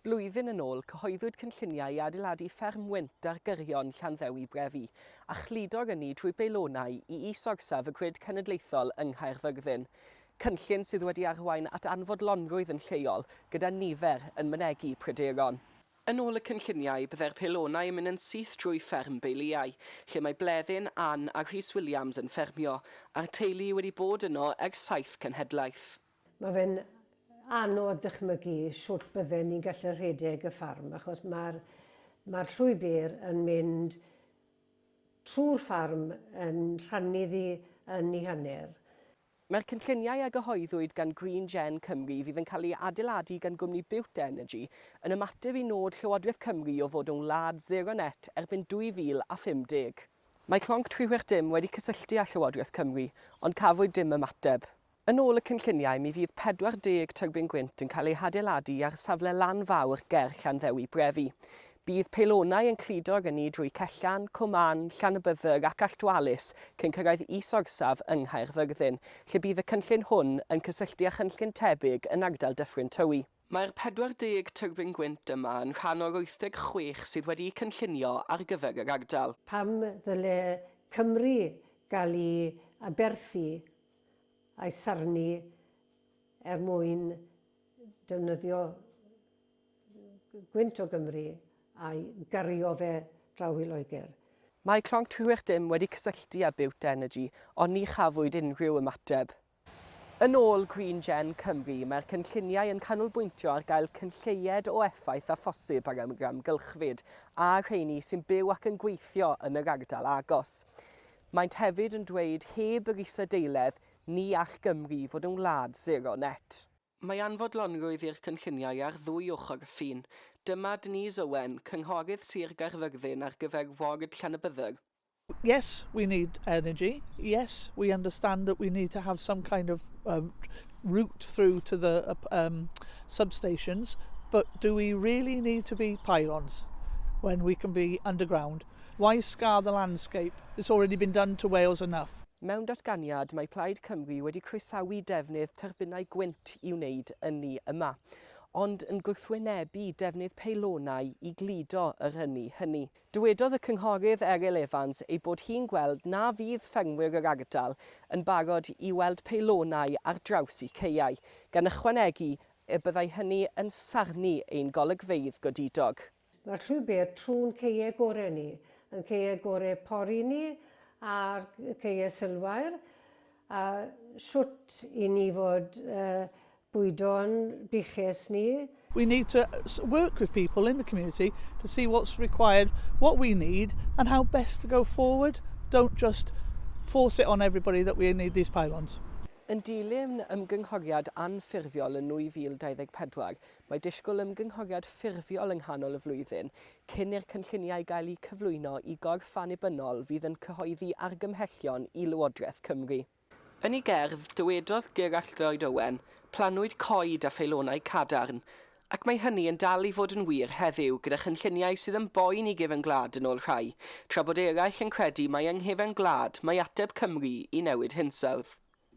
Blwyddyn yn ôl, cyhoeddwyd cynlluniau i adeiladu fferm wynt ar gyrion Llanddewi Brefi, a chludo'r ynni drwy beilonau i is-orsaf y grid cenedlaethol yng Nghaerfyrddin, cynllun sydd wedi arwain at anfodlonrwydd yn lleol, gyda nifer yn mynegi pryderon. Yn ôl y cynlluniau, byddai'r peilonau yn mynd yn syth drwy fferm Beiliau, lle mae Bleddyn, Ann a Rhys Williams yn ffermio, a'r teulu wedi bod yno ers saith cenhedlaeth. Mae fe'n anodd dychmygu shwt bydden ni'n gallu rhedeg y ffarm achos mae'r mae'r llwybr yn mynd trwy'r ffarm yn rhannu ddi yn ni hanner. Mae'r cynlluniau a gyhoeddwyd gan Green Gen Cymru fydd yn cael ei adeiladu gan gwmni Bute Energy yn ymateb i nod Llywodraeth Cymru o fod yn wlad sero net erbyn 2050. Mae Clonc Tri Chwech Dim wedi cysylltu â Llywodraeth Cymru ond cafwyd dim ymateb. Yn ôl y cynlluniau, mi fydd 40 tyrbin gwynt yn cael eu hadeiladu ar safle lan fawr ger Llanddewi Brefi. Bydd peilonau yn cludo ag ynni drwy Cellan, Cwm Mân, Llanybydder ac Alltdwalus cyn cyrraedd is-orsaf yng Nghaerfyrddin, lle bydd y cynllun hwn yn cysylltu â chynllun tebyg yn ardal Dyffryn Tywi. Mae'r 40 tyrbin gwynt yma yn rhan o'r 86 sydd wedi'u cynllunio ar gyfer yr ardal. Pam ddyle Cymru gael i aberthu a'i sarnu er mwyn defnyddio gwynt o Gymru a'i gario fe draw i Loegr. Mae Clonc Tywyll Dim wedi cysylltu â Bute Energy ond ni chafwyd unrhyw ymateb. Yn ôl Green Gen Cymru, mae'r cynlluniau yn canolbwyntio ar gael cynlleied o effaith â phosib ar yr amgylchfyd a'r rheini sy'n byw ac yn gweithio yn yr ardal agos. Maent hefyd yn dweud heb yr isadeiledd ni all Gymru fod yn wlad sero net. Mae anfodlonrwydd i'r cynlluniau ar ddwy ochr y ffin. Dyma Denise Owen, cynghorydd Sir Gaerfyrddin ar gyfer ward Llanybydder. Yes, we need energy, yes, we understand that we need to have some kind of um, route through to the um, substations, but do we really need to be pylons when we can be underground? Why scar the landscape? It's already been done to Wales enough. Mewn datganiad, mae Plaid Cymru wedi croesawu defnydd tyrbinau gwynt i wneud ynni yma, ond yn gwrthwynebu defnydd peilonau i gludo yr ynni hynny. Dywedodd y Cynghorydd Eryl Evans ei bod hi'n gweld na fydd ffermwyr yr ardal yn barod i weld peilonau ar draws eu caeau, gan ychwanegu y byddai hynny yn sarnu ein golygfeydd godidog. Mae'r llwybr trw'n caeau gorau ni, ein caeau gorau pori ni a'r caeau sylfaen, a shwt i ni fod bwydo'n buchus ni. We need to work with people in the community to see what's required, what we need and how best to go forward, don't just force it on everybody that we need these pylons. Yn dilyn ymgynghoriad anffurfiol yn 2024, Mae disgwyl ymgynghoriad ffurfiol yng nghanol y flwyddyn, cyn i'r cynlluniau gael eu cyflwyno i gorff annibynnol fydd yn cyhoeddi argymhellion i Lywodraeth Cymru. Yn ei gerdd, dywedodd Gerallt Lloyd Owen, Plannwyd coed a pheilonau cadarn, ac mae hynny yn dal i fod yn wir heddiw gyda chynlluniau sydd yn boen i gefn gwlad yn ôl rhai, tra bod eraill yn credu mai yng nghefn gwlad mae ateb Cymru i newid hinsawdd.